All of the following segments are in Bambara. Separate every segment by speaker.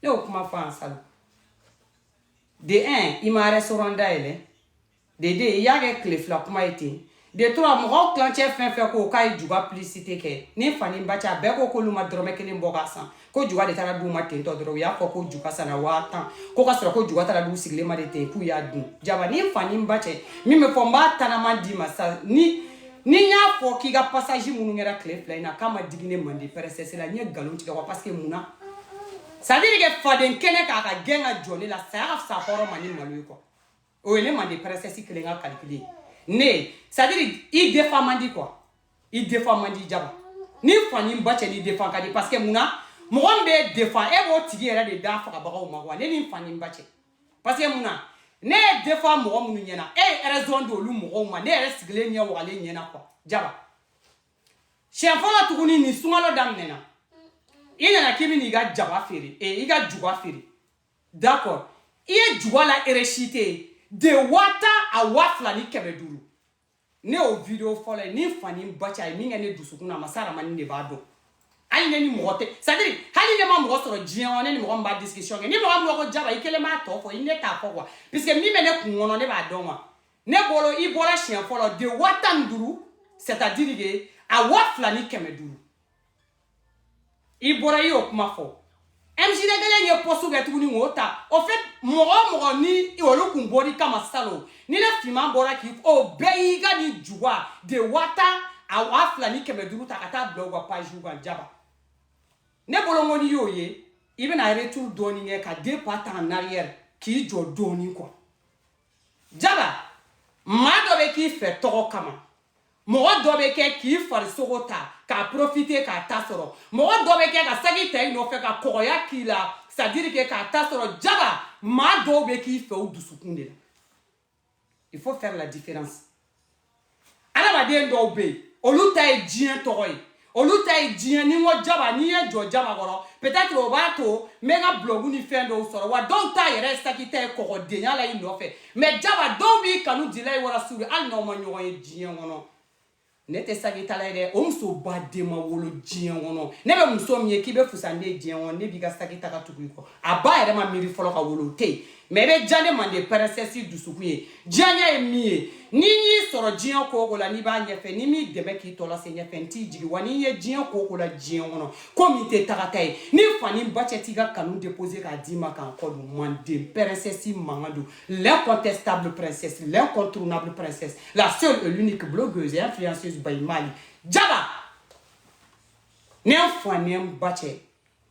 Speaker 1: ne y'o kuma fɔ an salon de un i ma restaurant dayɛlɛ de deux i y'a kɛ tile fila kuma ye ten de trois mɔgɔw tilancɛ fɛn fɛn ko k'a ye juga publicité kɛ ni fa ni ba cɛ a bɛɛ ko k'olu ma dɔrɔmɛ kelen bɔ k'a san ko juga de taara d'u ma ten tɔ dɔrɔn u y'a fɔ ko juga sanna waa tan ko ka sɔrɔ ko juga taara d'u sigilen ma de ten k'u y'a dun jaba ni fa ni ba cɛ min bɛ fɔ n b'a tanama d'i ma sa ni ni n y'a fɔ k'i ka passage minnu kɛra tile fila in na k'a ma digi ne mande princesse la n ye nkalon tigɛ wa parce que mun na c'est à dire que faden kɛnɛ k'a ka gɛn ka jɔ ne la saya ka fisa hɔrɔn ma ni malo ye quoi o ye ne mande princesse kelen ka calcul ye ne c'est à dire i défend man di quoi i défend man di jaba ni fa ni ba cɛ ne défend ka di parce que mun na mɔgɔ min bɛ défend e b'o tigi yɛrɛ de da fagabagaw ma wa ne ni fa ni ba cɛ parce que mun na ne y'i défend mɔgɔ minnu ɲɛna e ye raison di olu mɔgɔw ma ne yɛrɛ sigilen ɲɛ wagalen ɲɛna quoi jaba siɲɛ fɔlɔ tuguni nin sunkalo daminɛna i nana k'i bɛ n'i ka jaba feere ee eh, i ka juga feere d'accord i ye juga la eresite de waa tan à waa fila ni kɛmɛ duuru ne y'o video fɔlɔ ye ni fa ni ba cɛ a ye min kɛ ne dusukun na masa ramani de b'a dɔn hali ne ni mɔgɔ tɛ c'est à dire hali ne ma mɔgɔ sɔrɔ diɲɛ kɔnɔ ne ni mɔgɔ min b'a discussion kɛ ni mɔgɔ min ko jaba i kelen b'a tɔ fɔ i ne t'a fɔ quoi puisque min bɛ ne kun kɔnɔ ne b'a dɔn wa ne bolo i bɔra siɲɛ fɔlɔ de waa tan ni duuru c'est à dire que à waa fila ni kɛmɛ duuru i bɔra i y'o kuma fɔ msd kelen ye post kɛ tuguni k'o ta au fait mɔgɔ o mɔgɔ ni olu kun bɔr'i kama salon ni ne finman bɔra k'i o bɛɛ y'i ka nin juga de waa tan à waa fila ni kɛmɛ duuru ta ka taa bila u ka pagew kan jaba ne bolo ko n'i y'o ye i bɛna retour dɔɔnin kɛ ka deux pas ta en arrière k'i jɔ dɔɔnin quoi jaba maa dɔ bɛ k'i fɛ tɔgɔ kama mɔgɔ dɔ bɛ kɛ k'i farisogo ta k'a profiter k'a ta sɔrɔ mɔgɔ dɔ bɛ kɛ ka saki ta i nɔfɛ ka kɔgɔya k'i la c'est à dire que k'a ta sɔrɔ jaba maa dɔw bɛ k'i fɛ u dusukun de la il faut faire la différence adamaden dɔw bɛ yen olu ta ye diɲɛ tɔgɔ ye olu ta ye diɲɛ ni n ko jaba ni n ye n jɔ jaba kɔrɔ peut-être o b'a to n bɛ n ka blog ni fɛn dɔw sɔrɔ wa dɔw ta yɛrɛ saki ta ye kɔgɔdenya la i nɔfɛ mais jaba dɔw b'i kanu lilahi wa rasulu hali n'aw ma ɲɔgɔn ye diɲɛ kɔnɔ ne tɛ sakitala ye dɛ o muso ba de ma wolo diɲɛ kɔnɔ ne bɛ muso min ye k'i bɛ fusa ne ye diɲɛ kɔnɔ ne b'i ka saki ta ka tugu i kɔ a ba yɛrɛ ma miiri fɔlɔ ka wolo o tɛ yen mais i bɛ diya ne mande princesse dusukun ye diyanye ye min ye ni n y'i sɔrɔ diɲɛ ko o ko la n'i b'a ɲɛfɛ ni n m'i dɛmɛ k'i tɔ lase ɲɛfɛ n t'i jigi wa n'i ye diɲɛ ko o ko la diɲɛ kɔnɔ ko min tɛ tagata ye ni fa ni ba cɛ t'i ka kanu déposer k'a d'i ma ka n kɔ don manden princesse mankan don l'incontestable princesse l'incontournable princesse la seule et l'unique blogueuse et influenceuse by mali jaba ne fa ne ba cɛ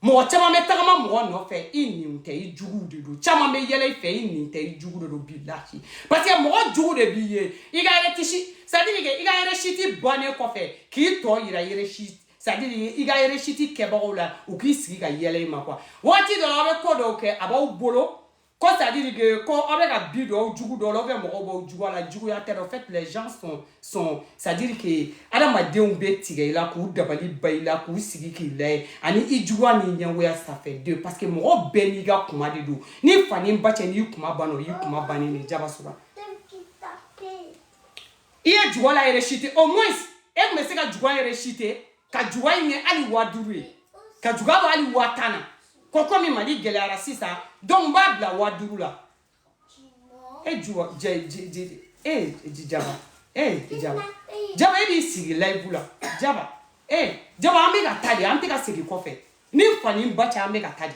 Speaker 1: mɔgɔ caman bɛ tagama mɔgɔ nɔfɛ i nin tɛ i juguw de don caman bɛ yɛlɛ i fɛ i nin tɛ i jugu de don bilahi parce que mɔgɔ jugu de b'i ye i ka réussite c'est à dire que i ka réussite bannen kɔfɛ k'i tɔ yira réussite c'est à dire i ka réussite kɛbagaw la u k'i sigi ka yɛlɛ i ma quoi waati dɔ la aw bɛ ko dɔw kɛ a b'aw bolo ko c'est à dire que ko aw bɛ ka bi dɔw jugu dɔw la ou bien mɔgɔw b'aw jugu a la juguya tɛ dɛ en fait les gens sont sont c'est à dire que adamadenw bɛ tigɛ i la k'u dabali ba i la k'u sigi k'i lajɛ ani i juguya n'i ɲɛngoya ça fait deux parce que mɔgɔ bɛɛ n'i ka kuma de don ni fa ni ba cɛ n'i kuma banna o y'i kuma bannen de jaba sora i ye juga la réussite au moins e tun bɛ se ka juga réussite ka juga in kɛ hali waa duuru ye ka juga bɔ hali waa tan na ko komi mali gɛlɛyara sisan donc n b'a bila waa duuru la e juba jɛ ji ji e ji jaba e jaba jaba e b'i sigi live la jaba e jaba an bɛ ka taa de an tɛ ka segin kɔfɛ ni fa ni ba cɛ an bɛ ka taa de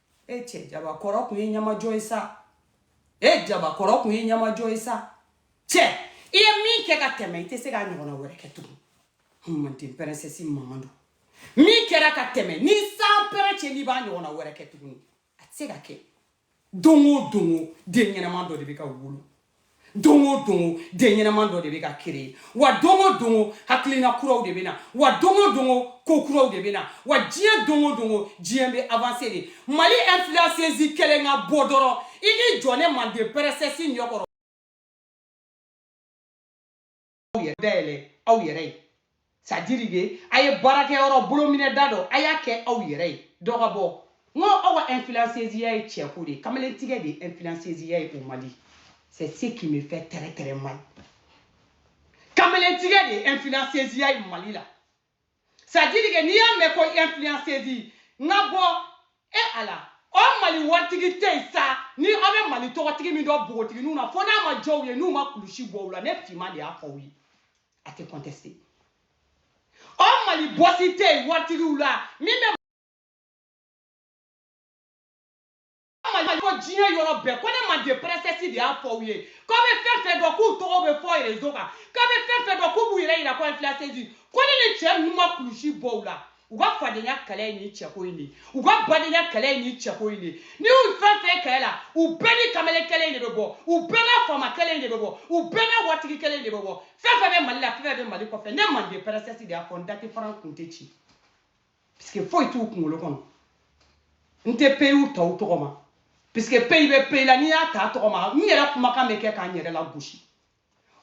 Speaker 1: e cɛ jaba kɔrɔ kun ye ɲamajɔ ye sa e jaba kɔrɔ kun ye ɲamajɔ ye sa cɛ i ye min kɛ ka tɛmɛ i tɛ se k'a ɲɔgɔnna wɛrɛ kɛ tugun manden princesse mamadu min kɛra ka tɛmɛ ni san pɛrɛn cɛ n'i b'a ɲɔgɔnna wɛrɛ kɛ tuguni a tɛ se ka kɛ don o don o den ɲɛnama dɔ de bɛ ka wolo don o don o den ɲɛnaman dɔ de bɛ ka créer wa don o don o hakilina kuraw de bɛ na wa don o don o ko kuraw de bɛ na wa diɲɛ don o don o diɲɛ bɛ avancer de mali influenceuse kelen ka bɔ dɔrɔn i k'i jɔ ne manden princesse ɲɛ kɔrɔ aw yɛrɛ dayɛlɛ aw yɛrɛ ye c'est à dire que a ye baarakɛyɔrɔ bolominɛda dɔ a y'a kɛ aw yɛrɛ ye dɔ ka bɔ n ko aw ka influenceziya ye cɛko de ye kamalentigɛ de ye influenceziya ye au mali c'est ce qui me fait très très mal kamalentigɛ de ye influenceziya ye mali la c'est à dire que n'i y'a mɛn ko influenceuse n ka bɔ e ala au mali waritigi tɛ yen sa ni aw bɛ mali tɔgɔtigi min dɔ npogotigininw na fo n'a ma jɔ u ye n'u ma kulusi bɔ u la ne finman de y'a fɔ aw ye a tɛ contester au mali bɔsi tɛ yen waritigiw la min bɛ mali ko diɲɛ yɔrɔ bɛɛ ko ne manden princesse de y'a fɔ u ye k'aw bɛ fɛn fɛn dɔn k'u tɔgɔ bɛ fɔ réseau kan k'aw bɛ fɛn fɛn dɔn k'u b'u yɛrɛ yira ko influenceuse ko ne ni cɛ ninnu ma kulusi bɔ u la u ka fadenya kɛlɛ ye nin cɛko in de u ka badenya kɛlɛ ye nin cɛko in de n'i y'u fɛn fɛn kɛlɛ la u bɛɛ ni kamalen kɛlɛ in de bɛ bɔ u bɛɛ n'a faama kɛlɛ in de bɛ bɔ u bɛɛ n'a waritigi kɛlɛ in de bɛ bɔ fɛn fɛn bɛ mali la fɛn fɛn bɛ mali kɔfɛ ne manden princesse de y'a fɔ n da tɛ fara n kun tɛ ci puisque foyi t'u kunkolo kɔnɔ n tɛ peyiw ta u tɔgɔ ma puisque peyi bɛ peyi la n'i y'a ta a tɔgɔ ma n yɛrɛ kumakan bɛ kɛ k'an yɛrɛ lagosi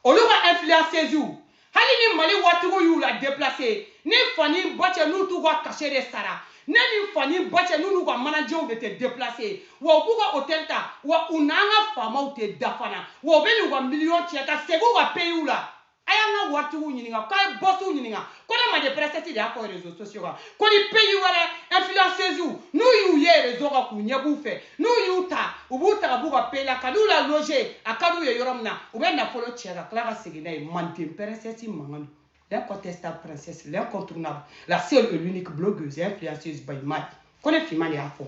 Speaker 1: olu ka influenceziw hali ni mali waritigiw y'u la deplace ni fa ni ba cɛ n'u t'u ka cachet de sara ne ni fa ni ba cɛ n'u n'u ka manajew de tɛ deplace wa u b'u ka hotɛli ta wa u n'an ka faamaw tɛ da fana wa u bɛ n'u ka miliyɔn cɛ ka segin u ka peyiw la a y'an ka waritigiw ɲininka k'a ye bɔsiw ɲininka ko ne manden princesse de y'a fɔ rezo sosiyo kan ko ni peyi wɛrɛ ɛnfilansɛziw n'u y'u ye rezo kan k'u ɲɛ b'u fɛ n'u y'u ta u b'u ta ka b'u ka peyi la ka n'u laloze a ka d'u ye yɔrɔ min na u bɛ nafolo cɛ ka tila ka segin n'a ye manden princesse mankan don l'incontestable princesse l'incontournable la seule et l'unique blogueuse influenceuse by mad ko ne finman de y'a fɔ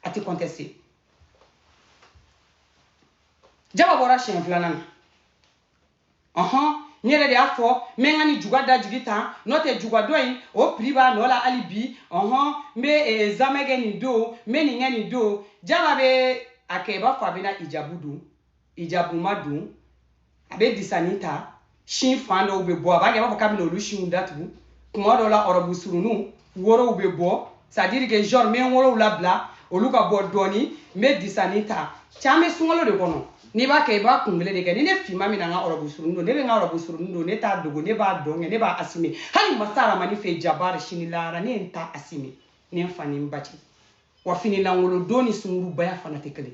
Speaker 1: a tɛ conteste jaba bɔra siɲɛ filanan na ɔhɔn ne yɛrɛ de y'a fɔ n bɛ n ka nijuguya da jigi tan n'o tɛ juguya dɔ in o piri b'a nɔ la hali bi ɔhɔn n bɛ eh, zamɛ kɛ nin don n bɛ nin kɛ nin don jaba bɛ a kɛ i b'a fɔ a bɛna hijabu don hijabu ma don a bɛ disani ta sin fan dɔw bɛ bɔ a b'a kɛ i b'a fɔ k'a bɛna olu sinw datugu kuma dɔw la ɔrɔbu surunninw worow bɛ bɔ c'est à dire que genre n bɛ n worow labila olu ka bɔ dɔɔni n bɛ disani ta k'an bɛ sunkalo de kɔnɔ n'i b'a kɛ i b'a kun kelen de kɛ ni ne finman bɛna n ka ɔrɔbu suruni don ne bɛ n ka ɔrɔbu suruni don ne t'a dogo ne b'a don kɛ ne b'a asime hali masa aramani fɛ jabari sini lahara ne ye n ta asime ne n fa ni n ba cɛ wa finilankolodon ni sungurubaya fana tɛ kelen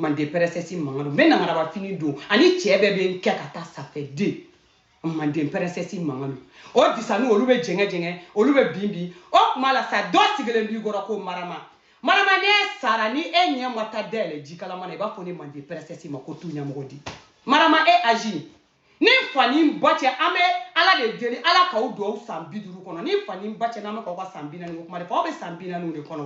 Speaker 1: manden princesse mankan don n bɛ nangaraba fini don ani cɛ bɛɛ bɛ n kɛ ka taa ça fait deux manden princesse mankan don o disani olu bɛ jɛngɛ jɛngɛ olu bɛ bin bin o tuma la sa dɔ sigilen b'i kɔrɔ ko marama marama ne sara ni e ɲɛ ma taa dayɛlɛ jikalama na i b'a fɔ ne manden princesse ma ko tu ɲɛmɔgɔ di marama e âge ni fa ni ba cɛ an bɛ ala de deli ala k'aw don san bi duuru kɔnɔ ni fa ni ba cɛ n'an bɛ k'aw ka san bi naani ko kuma de fɔ aw bɛ san bi naaniw de kɔnɔ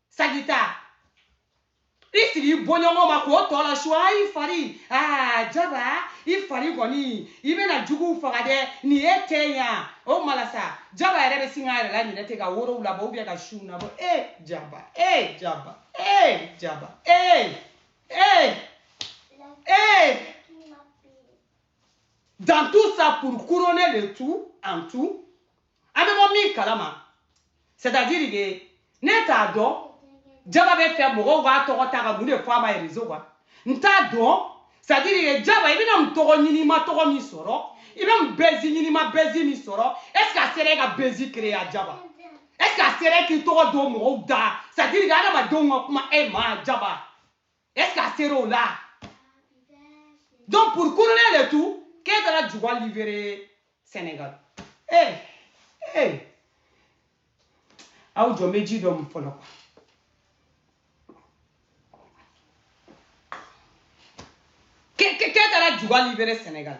Speaker 1: sagita i sigi i bɔɲɔgɔn ma k'o tɔ la su ayi fari aa jaba i fari kɔni i bɛna juguw faga dɛ nin ye tiɲɛ ye o kuma la sa jaba yɛrɛ bɛ sin k'a yɛrɛ la ɲinɛ ten ka worow labɔ ou bien ka sinw labɔ ee jaba ee jaba ee jaba ee ee ee dans tout ça pour couronner le tout en tout an bɛ mɔgɔ min kalama c'est à dire que ne t'a dɔn jaba b'a fɛ mɔgɔw b'a tɔgɔ ta ka mun de fɔ a ma réseau kan n t'a dɔn c'est à dire que jaba i bɛna mun tɔgɔ ɲini i ma tɔgɔ min sɔrɔ i bɛ mun bɛzi ɲini i ma bɛzi min sɔrɔ est ce que a sera e ka bɛzi créer a jaba est ce que a sera e k'i tɔgɔ don mɔgɔw da c'est à dire que adamadenw ka kuma e ma jaba Est-ce que a sera o la? Donc pour couronner le tout, k'e taara juga livrer Sénégal. Eh, eh. Aw jɔ n bɛ ji dɔ min fɔlɔ. K'e taara juga livrer Sénégal.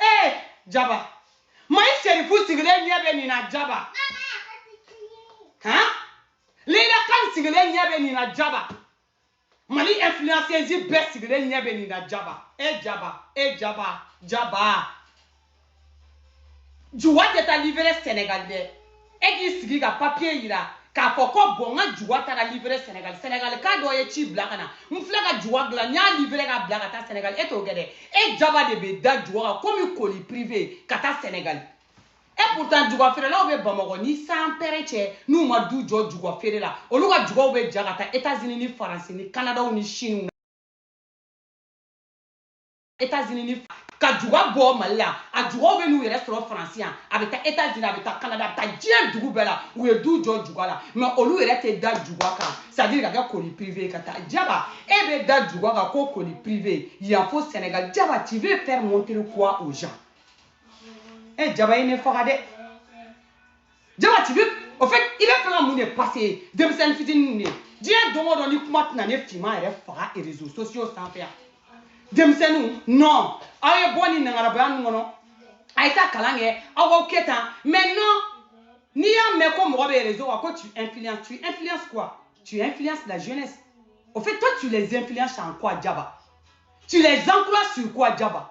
Speaker 1: ee jaba mayi serifu sigilen ɲɛ bɛ nin na jaba han leyila kan sigilen ɲɛ bɛ nin na jaba mali influenceuse bɛɛ sigilen ɲɛ bɛ nin na jaba e jaba e jaba jaba juga tɛ taa livré senegal dɛ e k'i sigi ka papiye yira k'a fɔ ko bɔn n ka juga taara livré senegal senegalka dɔ ye ci bila ka na n filɛ ka juga dilan n y'a livré ka bila ka taa senegal e t'o kɛ dɛ e jaba de bɛ da juga kan komi colis privé ka taa senegal e pourtant juga feerelaw bɛ bamakɔ ni san pɛrɛ cɛ n'u ma du jɔ juga feere la olu ka jugaw bɛ ja ka taa États-Unis ni faransi ni kanadaw ni chine États-Unis ni ka juga bɔ Mali la a jugaw bɛ n'u yɛrɛ sɔrɔ France yan a bɛ taa États-Unis a bɛ taa Canada a bɛ taa diɲɛ dugu bɛɛ la u ye du jɔ juga la mais olu yɛrɛ tɛ da juga kan c'est à dire ka kɛ colis privé ka taa Jaba e bɛ da juga kan ko colis privé yan fo Sénégal Jaba tu veux faire montrer quoi aux gens e Jaba i ne faga dɛ Jaba tu veux au fait i bɛ fɛ ka mun de passer denmisɛn fitinin ne diɲɛ don o don ni kuma tɛna ne finman yɛrɛ faga réseaux sociaux sanfɛ yan denmisɛnninw non aw ye bɔ ni nangarabaya ninnu kɔnɔ a ye taa kalan kɛ aw k'aw kɛ tan mais non n'i y'a mɛn ko mɔgɔ bɛ réseau kan ko tu influences tu influences quoi tu influences la jeunesse au fait toi tu les influences en quoi jaba tu les encourages sur quoi jaba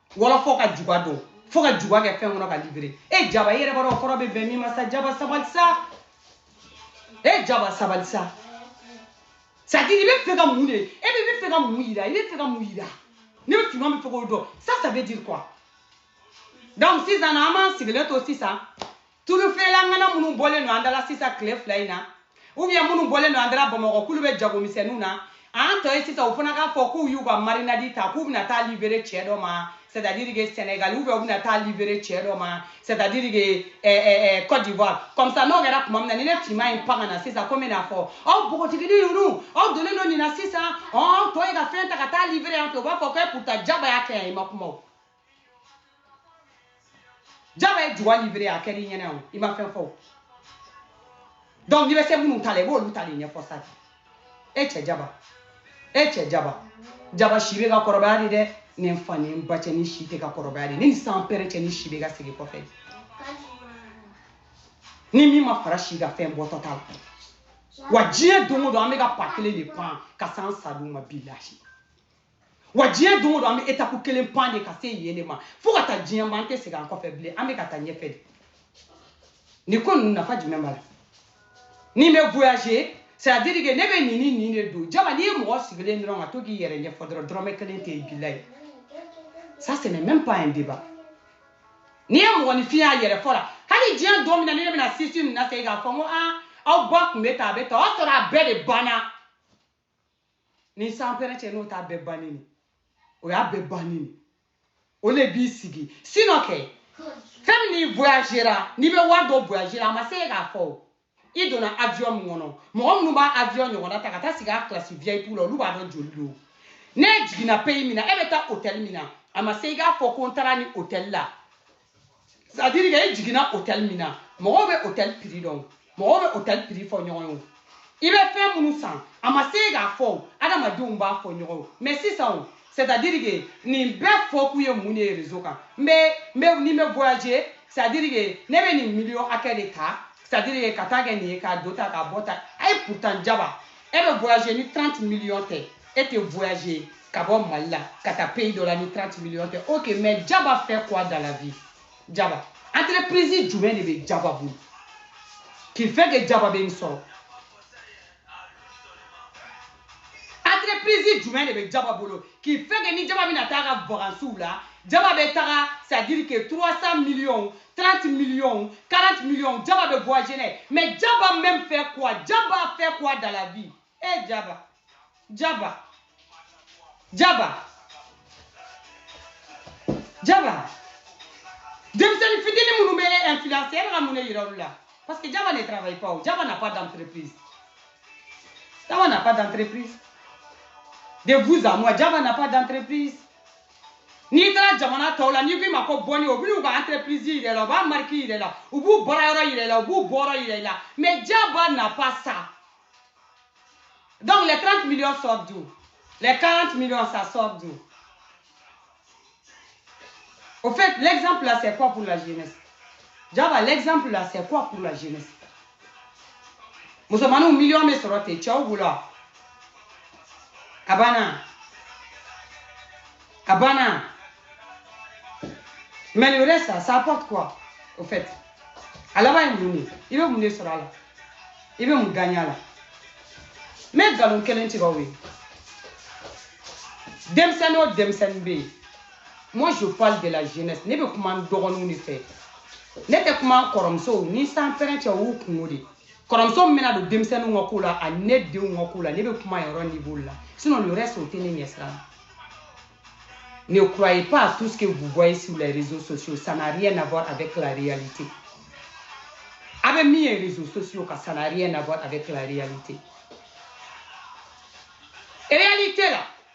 Speaker 1: wala fo ka juga don fo ka juga kɛ fɛn kɔnɔ ka livrer e jaba e yɛrɛ b'a dɔn kɔrɔ bɛ bɛn min ma sa jaba sabali sa e jaba sabali sa c'est-à-dire i bɛ fɛ ka mun de e bɛ bɛ fɛ ka mun yira i bɛ fɛ ka mun yira ne finman bɛ fɛ k'o dɔn ça ça veut dire quoi donc sisan an b'an sigilen to sisan tulu feerela ngana minnu bɔlen don an da la sisan tile fila in na ou bien minnu bɔlen don an da la bamakɔ k'olu bɛ jagomisɛnninw na an tɔ ye sisan u fana k'a fɔ k'u y'u ka marinade ta k'u bɛna taa livrer cɛ dɔ ma c'est à dire que Sénégal ou bien u bɛna taa livrer cɛ dɔ ma c'est à dire que eh, eh, eh, Côte d'Ivoire comme ça n'o kɛra tuma min na ni ne finman in pan ka na sisan komi n'a fɔ aw npogotigini ninnu aw donnen don nin na sisan ɔn tɔ ye ka fɛn ta ka taa livrer yan fɛ u b'a fɔ ko pourtant jaba y'a kɛ yan i ma kuma o jaba ye juwa libere a kɛra i ɲɛna o i ma fɛn fɔ o donc n'i bɛ se minnu ta la i b'olu ta de ɲɛfɔ sa e cɛ jaba e cɛ jaba jaba si bɛ ka kɔrɔbaya de dɛ ne fa ni n ba cɛ ni si tɛ ka kɔrɔbaya de ne ni sanpɛrɛn cɛ ni si bɛ ka segin kɔfɛ ni min ma fara si kan fɛn bɔtɔ t'a la wa diɲɛ don o don an bɛ ka pas kelen de pan ka s'an sa don ma bilahi wa diɲɛ don o don an bɛ étape kelen pan de ka se yen de ma fo ka taa diɲɛ ma an tɛ segin an kɔfɛ bilen an bɛ ka taa ɲɛfɛ de nin ko ninnu nafa jumɛn b'a la ni n bɛ voyager c'est à dire que ne bɛ nin ni nin de don jaba n'i ye mɔgɔ sigilen dɔrɔn ka to k'i yɛrɛ ɲɛfɔ dɔrɔn dɔrɔmɛ kelen tɛ yen bilayi ça c'est même pas un débat n'i ye mɔgɔninfin y'a yɛrɛ fɔ la hali diɲɛ don min na ni ne bɛna sisi ninnu na segin k'a fɔ n ko aa aw ba tun bɛ tan a bɛ tan o y'a sɔrɔ a bɛɛ de banna ni sanpɛrɛn cɛ n'o t'a bɛɛ banni ni o y'a bɛɛ banni ni o le b'i sigi sinon kɛ fɛn min n'i voyagera n'i bɛ wari dɔ voyagera a ma se e k'a fɔ o i donna avion min kɔnɔ mɔgɔ minnu b'a avion ɲɔgɔnna ta ka taa sigi a classe vip la olu b'a dɔn joli don n'e jiginna pays min na e bɛ taa hôtel min na a ma se i k'a fɔ ko n taara nin hôtel la c'est à dire que e jiginna hôtel min na mɔgɔw bɛ hôtel prix dɔn mɔgɔw bɛ hôtel prix fɔ ɲɔgɔn ye i bɛ fɛn minnu san a ma se i k'a fɔ adamadenw b'a fɔ ɲɔgɔn ye mais sisan o c'est à dire que nin bɛɛ fɔ kun ye mun de ye réseau kan n bɛ n bɛ ni n bɛ voyager c'est à dire que ne bɛ nin million hakɛ de ta c'est à dire que ka taa kɛ nin ye ka don tan ka bɔ tan ayi pourtant jaba e bɛ voyager ni 30 millions tɛ e tɛ voyager ka bɔ mali la ka taa pays dɔ la ni 30 millions tɛ ok mais jaba fait quoi dans la vie jaba entreprise jumɛn de bɛ jaba bolo qui fait que jaba bɛ nin sɔrɔ entreprise jumɛn de bɛ jaba bolo qui fait que ni jaba bɛna taa ka vacances la jaba bɛ taga c'est à dire que 300 millions 30 millions, 40 millions, Jabba de voyager. Mais Jabba même fait quoi Jabba fait quoi dans la vie Eh Jabba, Jabba, Jabba, Jabba. Denmisɛnnin fitinin minnu bɛ influencer e bɛ ka mun de yira olu la parce que Jaba ne travaille pas o Jaba n'a pas d'entreprise Jaba n'a pas d'entreprise de vous à moi Jaba n'a pas d'entreprise n'i taara jamana tɔw la n'i k'i ma ko bɔnni o b'u ka entreprise yira i la u b'a marque yira i la u b'u baarayɔrɔ yira i la u b'u bureau yira i la mais jaba n'a pas ça donc les 30 millions sortent d'où les 40 millions ça sort d'où au fait l'exemple là c'est quoi pour la jeunesse Jaba l'exemple là c'est quoi pour la jeunesse musomanninw million bɛ sɔrɔ ten cɛw bolo wa a banna a banna mais le reste ça ça apporte quoi au fait a laban ye mun de i bɛ mun de sɔrɔ a la i bɛ mun gagner a la n bɛ nkalon kelen tigɛ aw ye denmisɛnnin o denmisɛnnin bɛ yen moi je parle de la jeunesse ne bɛ kuma n dɔgɔninw de fɛ ne tɛ kuma n kɔrɔmusow ni sanpɛrɛn cɛ o y'u kungo de ye kɔrɔmuso min bɛna don denmisɛnninw ka ko la ani ne denw ka ko la ne bɛ kuma yɔrɔ niveau de la sinon le reste o tɛ ne ɲɛsira la ne croyez pas à tout ce que vous voyez sur les réseaux sociaux ça n'a rien à voir avec la réalité a bɛ min ye réseaux sociaux kan ça n'a rien à voir avec la réalité réalité la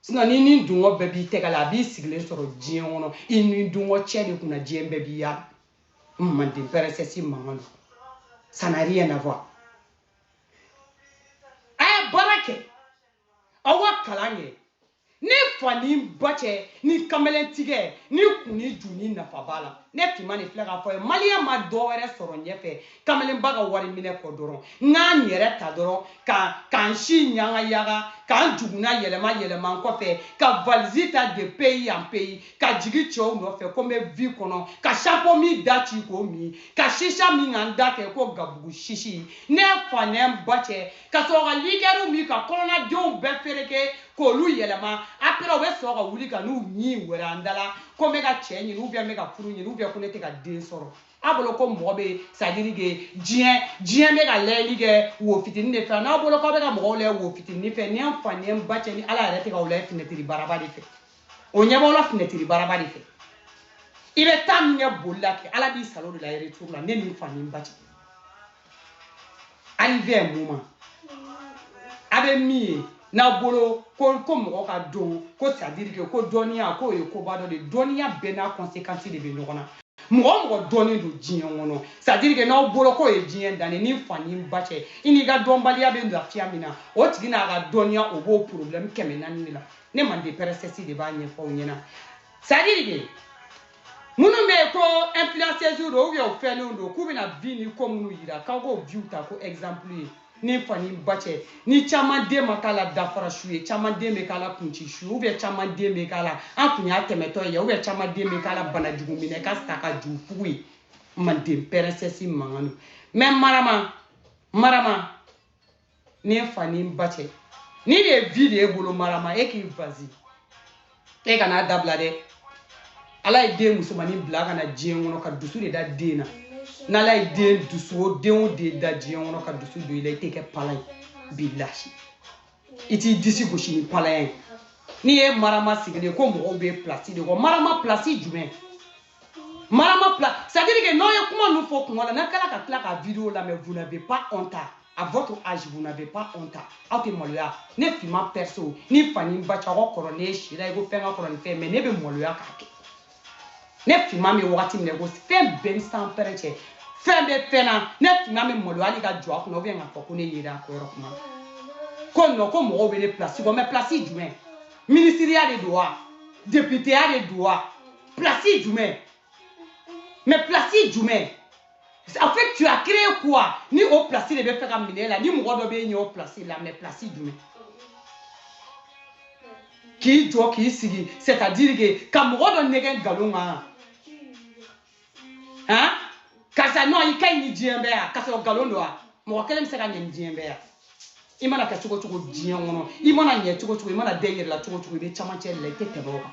Speaker 1: sinon n'i nidungɔ bɛɛ b'i tɛgɛ la a b'i sigilen sɔrɔ diɲɛ kɔnɔ i nidungɔ cɛ de kunna diɲɛ bɛɛ b'i ya manden princesse mankan don ça n'a rien à voir a ye baara kɛ aw wa kalan kɛ ne fa ni ba cɛ ni kamalentigɛ ni kun ni ju ni nafa b'a la ne timanin filɛ k'a f'aw ye maliyɛn ma dɔ wɛrɛ sɔrɔ ɲɛfɛ kamalenba ka wari minɛ kɔ dɔrɔn n ka n yɛrɛ ta dɔrɔn ka ka n si yagayaga ka n jukunan yɛlɛma yɛlɛma n kɔfɛ ka valizi ta de pays en pays ka jigin cɛw nɔfɛ ko n bɛ vie kɔnɔ ka champagne da ci k'o min ka chicha min ka n da kɛ ko gabugu sisi ne fa ni n ba cɛ ka sɔrɔ ka liqueurw min ka kɔnɔnadenw bɛɛ fereke k'olu yɛlɛma après o bɛ sɔrɔ ka wuli ka n'u ɲin wɛrɛ an da la ko n bɛ ka cɛ ɲini ou bien n bɛ ka furu ɲini ou bien ko ne tɛ ka den sɔrɔ a bolo ko mɔgɔ bɛ c'est-à-dire que diɲɛ diɲɛ bɛ ka lajɛli kɛ wo fitinin de fɛ n'a bolo k'aw bɛ ka mɔgɔw lajɛ wo fitinin fɛ ni an fa ni an ba cɛ ni ala yɛrɛ tɛ k'aw lajɛ finɛtiri baraba de fɛ o ɲɛ b'aw la finɛtiri baraba de fɛ i bɛ taa min kɛ boli la kɛ ala b'i salon de l'aller-retour la ne ni n fa ni n ba cɛ arrivé un moment a bɛ min ye n'aw bolo ko ko mɔgɔ ka dɔn ko c'est-à-dire que ko dɔnniya k'o ye koba dɔ de dɔnniya bɛɛ n'a conséquence de bɛ ɲɔgɔn na mɔgɔ mɔgɔ dɔnnen don diɲɛ kɔnɔ c'est-à-dire que n'aw bolo k'o ye diɲɛ dan ye ni fa ni ba cɛ i n'i ka dɔnbaliya bɛ lafiya min na o tigi n'a ka dɔnniya o b'o problème kɛmɛ naani de la ne manden princesse de b'a ɲɛfɔ aw ɲɛna c'est-à-dire que minnu bɛ yen ko influenceuses don ou bien u fɛnninw don k'u bɛna vie ni ko minnu yira k'aw k'o viw ta ko exemple ye ni fa ni ba cɛ ni caman de ma k'a la dafara su ye caman de bɛ k'a la kunci su ou bien caman de bɛ k'a la an kun y'a tɛmɛtɔ ye ou bien caman de bɛ k'a la banajugu minɛ ka sa ka ju fugu ye manden princesse mankan don mais marama marama ne fa ni n ba cɛ nin de ye vie de ye bolo marama e k'i vas-y e kan'a dabila dɛ ala ye den musomanin bila ka na diɲɛ kɔnɔ ka dusu de da den na n'ala ye den dusu o den o den da diɲɛ kɔnɔ ka dusu don i la i tɛ kɛ pala ye billahi i t'i disi gosi ni palaya ye n'i ye marama sigilen ko mɔgɔw bɛ pilasi de kɔ marama pilasi jumɛn Marama place, c'est à dire que n'aw ye kuma ninnu fɔ kuma la n'a kɛra ka tila ka video lamɛn vous n'avez pas honte à votre âge vous n'avez pas honte aw tɛ maloya ne finman perso ni fa ni ba cɛ aw kɔrɔ ne ye si la i ko fɛn ka kɔrɔ ni fɛn mais ne bɛ maloya k'a kɛ ne finman bɛ wagati min na i ko fɛn bɛɛ ni sanpɛrɛn cɛ fɛn bɛ fɛn na ne finman bɛ maloya hali ka jɔ a kunna ou bien k'a fɔ ko ne yera a ko yɔrɔ kuma ko non ko mɔgɔw bɛ ne place kɔ mais place jumɛn minisiriya de don wa deputeya de don wa Place jumɛn mais place jumɛn en fait tu as créé quoi ni o place de bɛ fɛ ka minɛ la ni mɔgɔ dɔ bɛ ɲɛ o place la mais place jumɛn k'i jɔ k'i sigi c'est à dire que ka mɔgɔ dɔ nɛgɛn nkalon kan han karisa non i ka ɲi ni diɲɛ bɛɛ yan k'a sɔrɔ nkalon don wa mɔgɔ kelen bɛ se ka ɲɛ ni diɲɛ bɛɛ yan i mana kɛ cogo cogo diɲɛ kɔnɔ i mana ɲɛ cogo cogo i mana da i yɛrɛ la cogo cogo i bɛ camancɛ de la i tɛ tɛmɛ o kan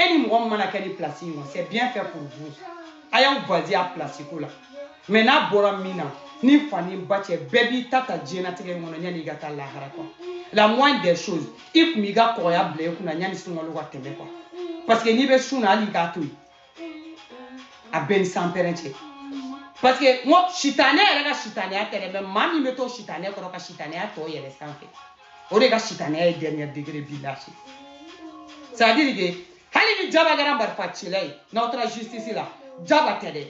Speaker 1: e ni mɔgɔ min mana kɛ nin place in kɔ c'est bien fait pour vous a y'aw baser a place ko la mais n'a bɔra min na ni fa ni ba cɛ bɛɛ b'i ta ta diɲɛnatigɛ in kɔnɔ yanni i ka taa lahara quoi la moindre des choses i tun b'i ka kɔgɔya bila i kunna yanni sunkalo ka tɛmɛ quoi parce que n'i bɛ sun na hali i k'a to yen a bɛɛ ni sanpɛrɛn cɛ parce que n ko sitanɛ yɛrɛ ka sitanɛya tɛ dɛ mais maa min bɛ to sitanɛ kɔrɔ ka sitanɛya tɔ yɛlɛ sanfɛ o de ka sitanɛya ye dernier degré bi lase c'est à dire que hali ni jaba kɛra marifacila ye n'aw taara justice la jaba tɛ dɛ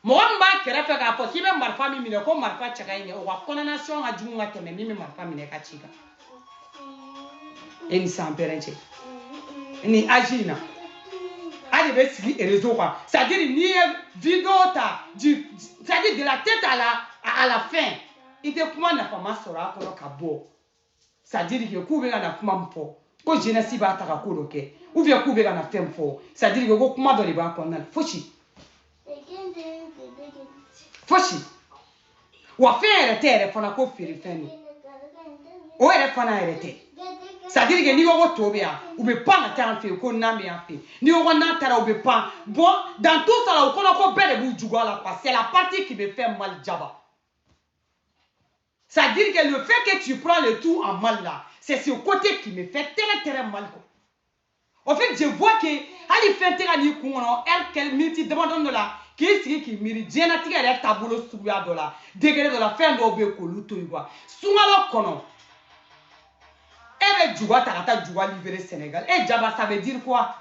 Speaker 1: mɔgɔ min b'a kɛrɛfɛ k'a fɔ k'i bɛ marifa min minɛ ko marifa cɛ ka ɲi dɛ o ka condamnation ka jugu ka tɛmɛ min bɛ marifa minɛ ka ci kan e ni sanpɛrɛn cɛ ni âge in na a de bɛ sigi réseau kan c'est à dire n'i ye video ta c'est à dire de la tête à la fin i tɛ kuma nafama sɔrɔ a kɔnɔ ka bɔ c'est à dire que k'u bɛ ka na kuma min fɔ ko jeunesse b'a ta ka ko dɔ kɛ ou bien k'u bɛ ka na fɛn min fɔ c'est à dire que ko kuma dɔ de b'a kɔnɔna la fosi fosi wa fɛn yɛrɛ tɛ yɛrɛ fana ko feere fɛn don o yɛrɛ fana yɛrɛ tɛ c'est à dire que n'i ko ko to bɛ yan u bɛ pan ka taa yan fɛ yen ko nan bɛ yan fɛ yen n'i ko ko nan taara u bɛ pan bon dans tout ça là o kɔnɔ ko bɛɛ de b'u juguya la quoi c'est la partie qui me fait mal jaba C'est à dire que le fait que tu prends le tout en mal là, c'est ce côté qui me fait très très mal. Quoi. En fait, je vois que hali fɛn tɛ ka n'i kun kɔnɔ heure minute damadɔni dɔ la k'i sigi k'i miiri diɲɛnatigɛ yɛrɛ taabolo suguya dɔ la degré dɔ la fɛn dɔw bɛ k'olu to yen quoi sunkalo kɔnɔ e bɛ juga ta ka taa juga libérer Sénégal e jaba ça veut dire quoi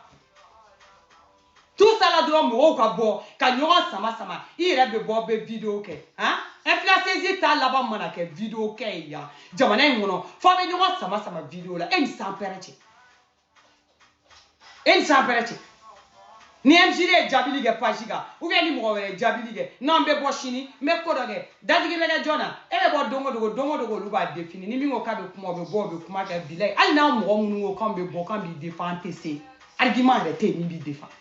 Speaker 1: tout ça là dɔrɔn mɔgɔw ka bɔ ka ɲɔgɔn sama sama i yɛrɛ bɛ bɔ bɛ video kɛ han influenceuse ta laban mana kɛ video kɛ ye yan jamana in kɔnɔ fɔ bɛ ɲɔgɔn sama sama video la e ni sanpɛrɛn cɛ e ni sanpɛrɛn cɛ ni mcd ye jaabili kɛ page kan ou bien ni mɔgɔ wɛrɛ ye jaabili kɛ n'an bɛ bɔ sini n bɛ ko dɔ kɛ dadigi bɛ kɛ jɔn na e bɛ bɔ don o don don o don olu b'a défini ni min ko k'a bɛ kuma o bɛ bɔ o bɛ kuma kɛ bilayi hali n'a mɔgɔ minnu ko k'an bɛ bɔ k'an b'i défend an tɛ se argument yɛrɛ tɛ yen min b'i défend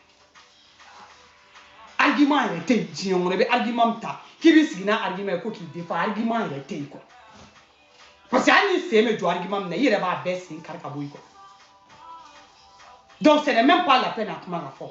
Speaker 1: argument yɛrɛ tɛ yen diɲɛ kɔnɔ i bɛ argument min ta k'i b'i sigi n'a argument ye ko k'i défend argument yɛrɛ tɛ yen quoi parce que hali n'i sen bɛ jɔ argument min na i yɛrɛ b'a bɛɛ sen kari ka bɔ yen quoi donc ce n'est même pas la peine a kuma ka fɔ.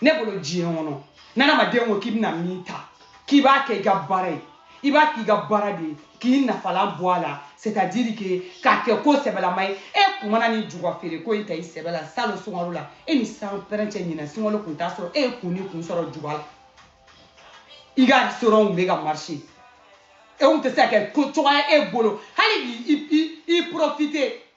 Speaker 1: ne bolo diɲɛ kɔnɔ n'adamaden ko k'i bɛna min ta k'i b'a kɛ i ka baara ye i b'a k'i ka baara de ye k'i nafalan bɔ a la c'est à dire que k'a kɛ ko sɛbɛlama ye e kun mana nin juga feere ko in ta i sɛbɛ la salon sunkalo la e ni sanpɛrɛn cɛ ɲinɛ sunkalo kun t'a sɔrɔ e ye kun ni kun sɔrɔ juga la i ka restaurant bɛ ka marché e kun tɛ se ka kɛ ko cogoya e bolo hali bi i i i profiter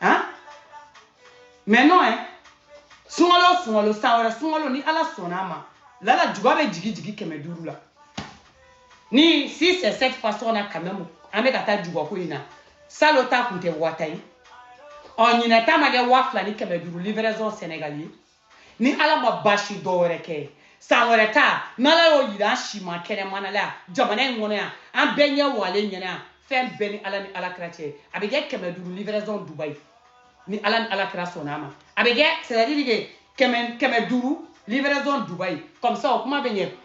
Speaker 1: Hein? Mais non, hein? sunkalo sunkalo san wɛrɛ sunkalo ni ala sɔnna a ma lala juga bɛ jigi jigi kɛmɛ duuru la ni si c'est cette façon là quand même an bɛ ka taa juga ko in na salon ta kun tɛ waa tan ye ɔ ɲinɛ ta ma kɛ waa fila ni kɛmɛ duuru livraison sénégal ye ni ala ma baasi dɔ wɛrɛ kɛ san wɛrɛ ta n'ala y'o yira an si ma kɛnɛmana la jamana in kɔnɔ yan an bɛɛ ɲɛ walen ɲɛna yan fɛn bɛɛ ni ala ni ala kira cɛ a bɛ kɛ kɛmɛ duuru livraison dubayi ni ala ni ala kira sɔnna a ma a bɛ kɛ c'est à dire que kɛmɛ kɛmɛ duuru livraison dubayi comme ça o kuma bɛ ɲɛ